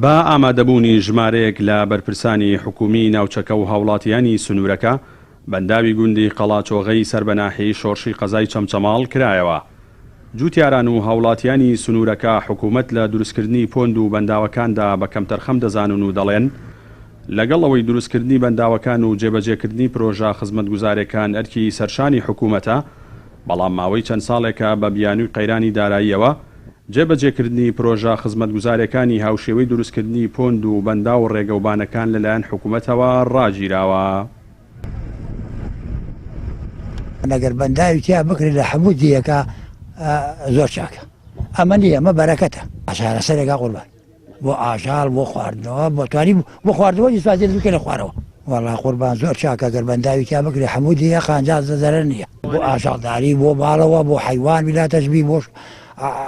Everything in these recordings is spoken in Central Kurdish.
بە ئامادەبوونی ژمارەیەک لە بەرپرسانی حکوومیی ناوچەکە و هاوڵاتییانی سنوورەکە، بەنداوی گوندی قەڵاچۆغەی سەر بە ناحیەی شۆرشی قەزای چەمچەماڵ کرایەوە. جووتیاران و هاوڵاتییانی سنوورەکە حکوومەت لە دروستکردنی پۆند و بەنداوەکاندا بە کەمتەرخەم دەزانن و دەڵێن، لەگەڵ ئەوەی دروستکردنی بەنداوەکان و جێبەجێکردنی پرۆژە خزمەتگوزارێکان ئەرکی سەرشانی حکوومەتە، بەڵام ماوەی چەند ساڵێکە بە بیانووی قەیرانی داراییەوە، جێبەجێکردنی پرۆژە خزمەتگوزارێکانی هاوشێوەی دروستکردنی پۆند و بەنداو و ڕێگەوبانەکان لەلایەن حکوومەتەوە ڕاگیراوە. ئەگەر بەنداوی تیا بکرێت لە هەموو دیەکە زۆر چاکە ئەمە نیە ئەمە بەرەکەتە چارەسەرێکە قوربان. بۆ ئاژەڵ بۆ خواردنەوە بۆ توانی بۆ خواردنەوە ئیسفادەی لێ بکەنە خوارەوە. وەڵا قوربان زۆر چاکە گەر بەنداوی تیا بکرێ حەموو دێیە قانجاز دە زەرەر نییە. بۆ ئاژەڵداری بۆ ماڵەوە بۆ حەیوان بلاتەش بی بۆ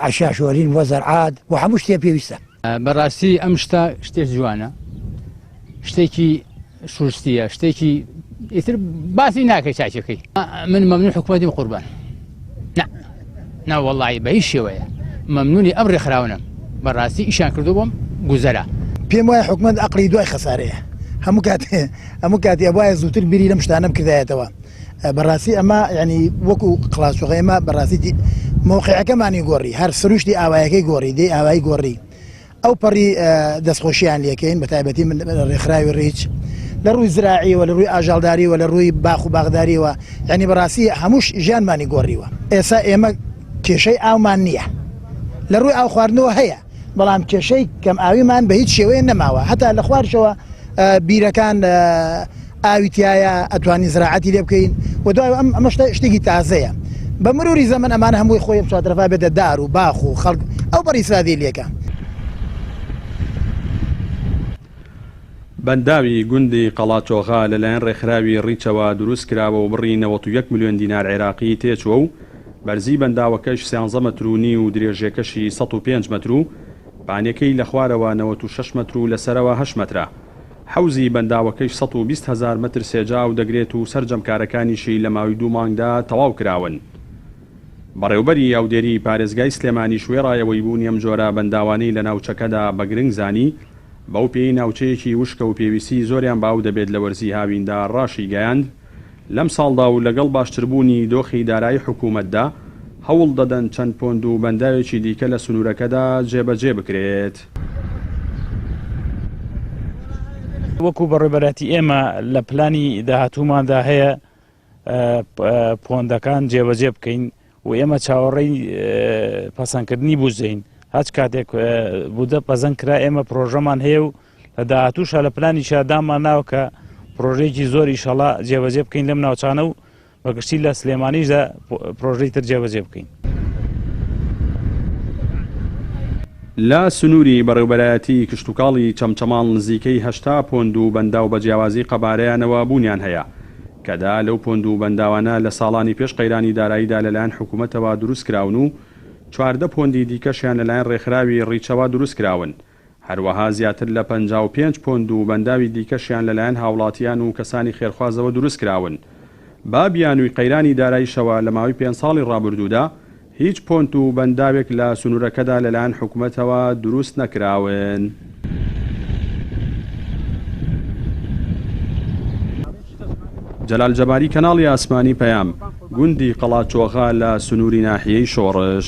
عەشاشۆرین بۆ زەرعات بۆ حەموو شتێ پێویستە. بەڕاستی ئەم شتە شتێ جوانە شتێکی شوستیە شتێکی ئیتر باسی ناکەی چاچەکەی من مەمنون حکوومەتیم قوربان ناوەڵی بە هیچ شێوەیە مەمنونی ئەم ڕێکخراونم بەڕاستی ئیشان کردو بۆم گوزەرە پێم وایە حکومت ئەقلی دوای خەسارەیە هەموو کات هەموو کاتی ئەبواە زووتر بیری لەم شتانم کردایەتەوە بەڕاستی ئەمە ینی وەکو قلاسوغی ئمە بەڕاستی مۆقعەکەمانی گۆڕی هەر سروشتی ئاوایەکەی گۆڕی دەی ئاوای گۆڕی ئەوپەڕی دەستخۆشییان لێکەین بە تایبەتی من لە ڕێکخراوی ڕیچ لە ڕووی زراعیەوە لە ڕووی ئاژاڵداریەوە لە ڕووی باخ و باغداریەوە یعنی بەڕاستی هەمووش ژیانمانی گۆڕیوە ئێسا ئێمە کێشەی ئاومان نییە لە ڕووی ئاو خواردنەوە هەیە بەڵام کێشەی کەم ئاویمان بە هیچ شێوەیە نەماوە هەتا لە خوارشەوە بیرەکان ئاوی تیایە ئەتوانین زراعەتی لێ بکەین و دوای ئەم ئەمە شتە شتێکی تازەیە بە مروری زەمەن ئەمانە هەمووی خۆی ئەم چوارتەرەفا بێتە دار و باخ و خەڵک ئەو بەڕی ئیسرافیل لێکا. بەنداوی گوندی قەڵاچۆغە لەلایەن ڕێکخراوی ڕیچەوە دروست کراوە و بڕی نەوەت و یەک ملیۆن دینار عێراقی تێچووە و بەرزی بەنداوەکەش سیانزە مەتر و نیو و درێژێکەشی سەد و پێنج مەتر و پانێکەی لە خوارەوە نەوەت و شەش مەتر و لە سەرەوە هەشت مەترە. حەوزی بەنداوەکەی سەد و بیست هەزار مەتر سێجا ئاو دەگرێت و سەرجەم کارەکانیشی لە ماوی دوو مانگدا تەواو کراون. بەڕێوبەری ئاودێری پارێزگای سلێمانیش وێڕایەوەی بوونی ئەم جۆرە بەنداوانەی لە ناوچەکەدا بە گرنگ زانی، بەو پێیەی ناوچەیەکی وشکە و پێویستیی زۆریان بە ئاو دەبێت لە وەرزی هاویندا راشیگەیاند، لەم ساڵدا و لەگەڵ باشتربوونی دۆخی دارایی حکوومەتدا، هەوڵ دەدەن چەند پۆند و بەنداوێکی دیکە لە سنوورەکەدا جێبەجێ بکرێت. وەکو بەڕێوبەرایەتی ئێمە لە پلانی داهاتووماندا هەیە پۆندەکان جێبەجێ بکەین، و ئێمە چاوەڕێی پەسەندکردنی بودجەین هەچ کاتێک بودە پەزەن کرا ئێمە پرۆژەمان هەیە و لە داهاتووشە لە پلانی شادامان ناوە کە پرۆژێکی زۆری شەڵا جێبەجێ بکەین لەم ناوچانە و بەگشتی لە سلێمانیشدا پرۆژەی تر جێبەجێ بکەین. لە سنووری بەڕێوبەرایەتیی کشتوکاڵی چەمچەماڵ نزیکەی هەشتا پۆند و بەنداو بە جیاوازی قەبارەیانەوە بوونیان هەیە، کەدا لەو پۆند و بەنداوانە لە ساڵانی پێش قەیرانی داراییدا لەلایەن حکوومەتەوە دروست کراون و چواردە پۆندی دیکەشیان لەلایەن ڕێکخراوی ڕیچەوە دروست کراون، هەروەها زیاتر لە پەنجا و پێنج پۆند و بەنداوی دیکەشیان لەلایەن هاوڵاتیان و کەسانی خێرخوازەوە دروست کراون بە بیانووی قەیرانی داراییشەوە لە ماوەی پێنج ساڵی ڕابردوودا هیچ پۆنت و بەنداوێک لە سنوورەکەدا لەلایەن حکومەتەوە دروست نەکراون. جەلال جەباری کەناڵی ئاسمانی پەیام، گوندی قەڵاچۆغە لە سنووری ناحیەی شۆڕش.